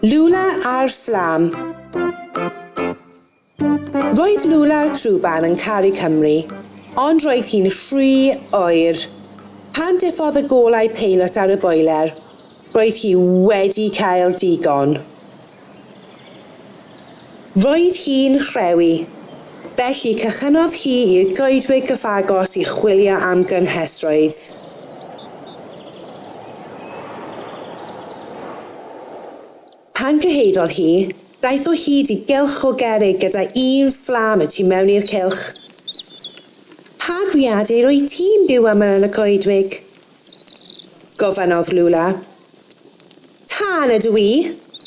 Lula ar fflam. Roedd Lula'r crwban yn caru Cymru, ond roedd hi'n rhy oer. Pan diffodd y golau peilot ar y boeler, roedd hi wedi cael digon. Roedd hi'n rhewi, felly cychynnodd hi i'r goedwig gyfagos i chwilio am gynhesrwydd. Pan gyhoeddodd hi, daeth o hyd i gylch o gerrig gyda un fflam y tu mewn i'r cylch. Pa greadur wyt ti'n byw â myn yn y coedwig? Gofynnodd Lula. Tân ydw i,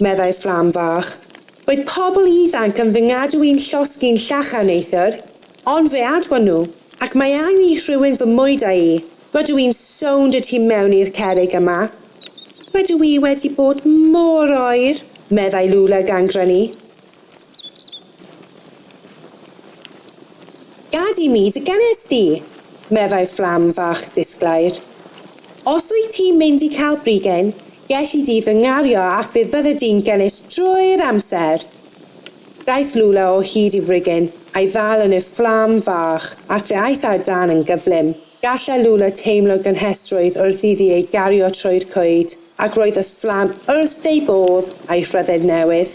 meddai fflam fach. Roedd pobl ifanc yn fy ngadw i'n llosg i'n llachar neithiwr, ond fe adwon nhw, ac mae angen i rhywun fy mwydo i. Rydw i'n sownd y tu mewn i'r cerrig yma. Rydw i wedi bod mor oer, meddai Lula gan grynu. Gad i mi dy gynnes di, meddai fflam fach disglair. Os wyt ti'n mynd i cael brigyn, gelli di fy ngario ac fe fydde di'n gynnes drwy'r amser. Daeth Lula o hyd i frigyn, a'i ddal yn y fflam fach ac fe aeth ar dân yn gyflym. Gallai Luna teimlo gynhesrwydd wrth iddi ei gario trwy'r coed, ac roedd y fflam wrth ei bodd a'i phryfed newydd.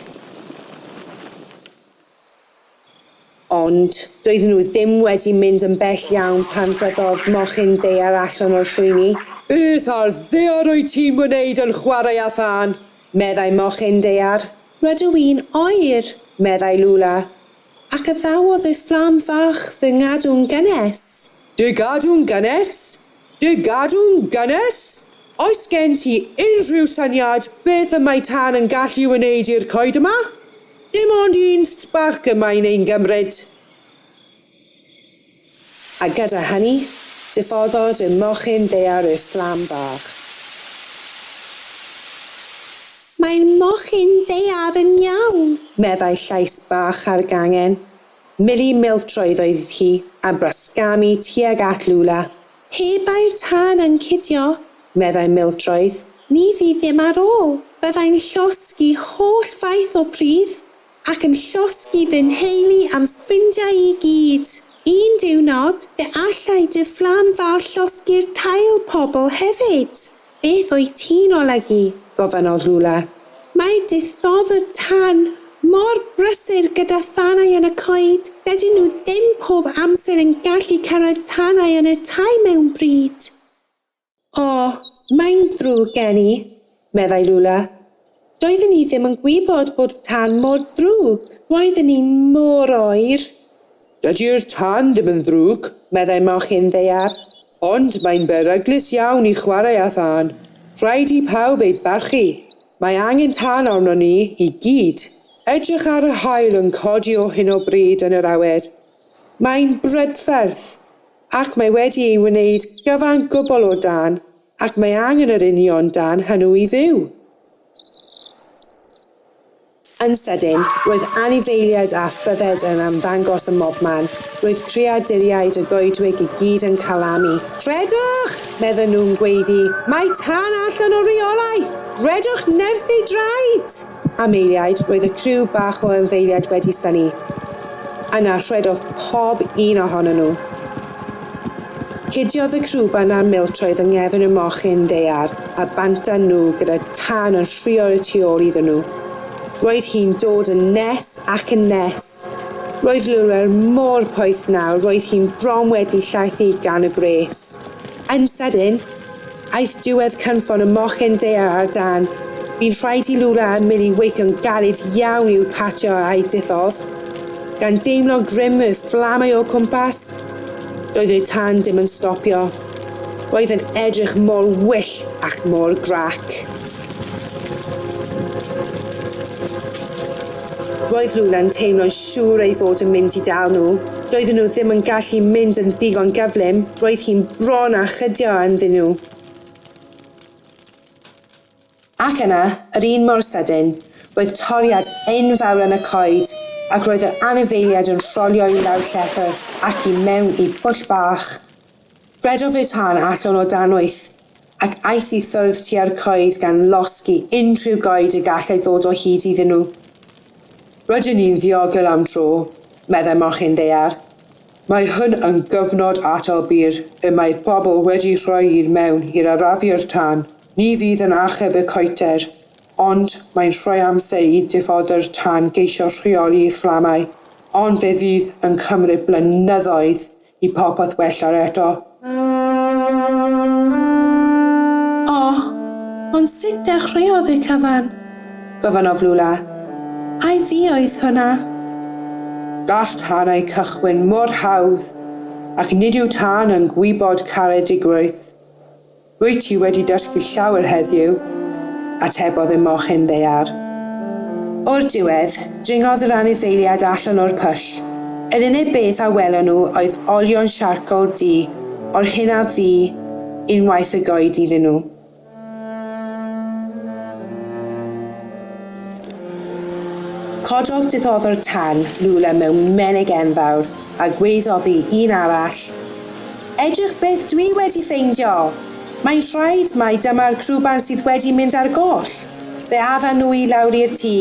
Ond doedden nhw ddim wedi mynd yn bell iawn pan rhoddodd mochyn ddaear allan o'r llwyni. Beth ar ddaear wyt ti'n wneud yn chwarae â thân? meddai mochyn ddaear. Rydw i'n oer, meddai Lula, ac addawodd y fflam fach fy ngadw'n gynnes. Dy gadw'n gynnes? Dy gadw'n gynnes? Oes gen ti unrhyw syniad beth y mae tân yn gallu wneud i'r coed yma? Dim ond un sbarc y mae'n ein gymryd. A gyda hynny, diffoddodd y mochyn ddaear i'r fflam bach. Mae'r mochyn ddaear yn iawn, meddai llais bach ar gangen. Millie Miltroed oedd hi, a brasgamu tuag at Lula. Pe bai'r tân yn cidio, meddai Miltroed, ni fydd ddim ar ôl, byddai'n llosgi holl faith o pridd, ac yn llosgi fy nheulu a'm ffrindiau i gyd. Un diwrnod, fe allai dy fflam fawr llosgi'r tail pobl hefyd. Beth wyt ti'n olygu? gofynnodd Lula. Mae dithofwr tân Mor brysur gyda thanau yn y coed, dydyn nhw ddim pob amser yn gallu cyrraedd tanau yn y tai mewn bryd. O, mae'n ddrwg gen i, meddai Lula. Doeddwn i ddim yn gwybod bod tân mor ddrwg. Roedden ni'n mor oer. Dydy'r tân ddim yn ddrwg, meddai mochyn ddaear, ond mae'n beryglus iawn i chwarae â thân. Rhaid i pawb ei barchu. Mae angen tân arnon ni i gyd. Edrych ar yr haul yn codi o hyn o bryd yn yr awyr. Mae'n brydferth, ac mae wedi ei wneud gyfan gwbl o dân, ac mae angen yr union dân hwnnw i fyw. Yn sydyn, roedd anifeiliaid a phryfed yn ymddangos ym mobman. Roedd creaduriaid y goedwig i gyd yn calamu. Rhedwch! medden nhw'n gweiddi. Mae tân allan o reolaeth! Rhedwch nerth ei draed! Am eiliad, roedd y criw bach o anifeiliaid wedi synnu. Yna, rhedodd pob un ohonyn nhw. Cudiodd y crwban a'r miltroedd yng nghefn y mochyn ddaear a bant â nhw gyda thân yn rhuo y tu ôl iddyn nhw. Roedd hi'n dod yn nes ac yn nes. Roedd Lulwer mor poeth nawr, roedd hi'n bron wedi llaethu gan y gwres. Yn sydyn, Aeth diwedd cynffon y mochyn daear ar dân. Bu'n rhaid i Lula a Milly weithio'n galed iawn i'w pacio a'u diffodd. Gan deimlo'n grym y fflamau o'u cwmpas, doedd y tân ddim yn stopio. Roedd yn edrych mor wyllt ac mor grac. Roedd Lula'n teimlo'n siŵr ei fod yn mynd i dal nhw. Doedden nhw ddim yn gallu mynd yn ddigon gyflym, roedd hi'n bron â chydio ynddyn nhw. Ac yna, yr un mor sydyn, roedd toriad enfawr yn y coed, ac roedd yr anifeiliaid yn rholio i lawr llethr ac i mewn i bwll bach. Rhedodd ei thân allan o dan wyth, ac aeth i ffwrdd tua'r coed gan losgi unrhyw goed y gallai ddod o hyd iddyn nhw. Rydyn ni'n ddiogel am dro, meddai mochyn ddaear. Mae hwn yn gyfnod atal byr y mae pobl wedi rhoi i'r mewn i'r arafu'r tân. Ni fydd yn achub y coeter, ond mae'n rhoi amser i diffoddwr tân geisio rheoli'r fflamau, ond fe fydd yn cymryd blynyddoedd I popeth wella'r eto. O! Ond sut dechreuodd y cyfan? Gofynnodd Lula. Ai fi oedd hwnna? Gall tanau cychwyn mor hawdd, ac nid yw tân yn gwybod caredigrwydd. Rwyt ti wedi dysgu llawer heddiw, atebodd y mochyn ddaear. O'r diwedd, dringodd yr anifeiliaid allan o'r pwll. Yr unig beth a welon nhw oedd olion siarcol du, o'r hyn a fu unwaith y goed iddyn nhw. Cododd diddoddwr tân Lula mewn menig enfawr a gwreiddodd i un arall. Edrych beth dwi wedi ffeindio! Mae'n rhaid mai dyma'r crwban sydd wedi mynd ar goll! Fe addan nhw i lawr i'r tŷ.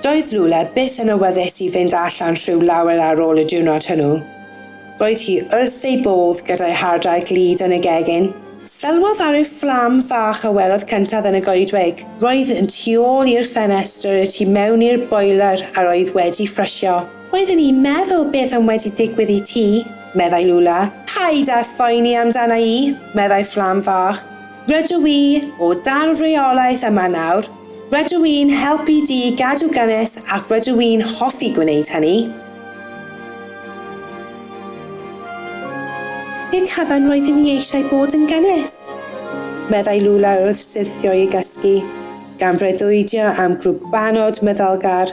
Doedd Lule byth yn awyddus i fynd allan rhyw lawer ar ôl y diwrnod hwnnw. Roedd hi wrth ei bodd gyda'i hardal glud yn y gegin. Sylwodd ar ryw fflam fach a welodd cyntaf yn y goedwig. Roedd yn tu ôl i'r ffenestr y tu mewn i'r boeler a roedd wedi ffrysio. Oedden i'n meddwl beth am wedi digwydd i ti, meddai Lula. Paid â phoeni amdana i, meddai fflam fach. Rydw i o dan reolaeth yma nawr, rydw i'n helpu Duw i gadw gynnes ac rydw i'n hoffi gwneud hynny. I'r cyfan roeddwn i eisiau bod yn gynnes, meddai Lula wrth syrthio i'r gysgu, gan freuddwydio am grwbanod meddylgar.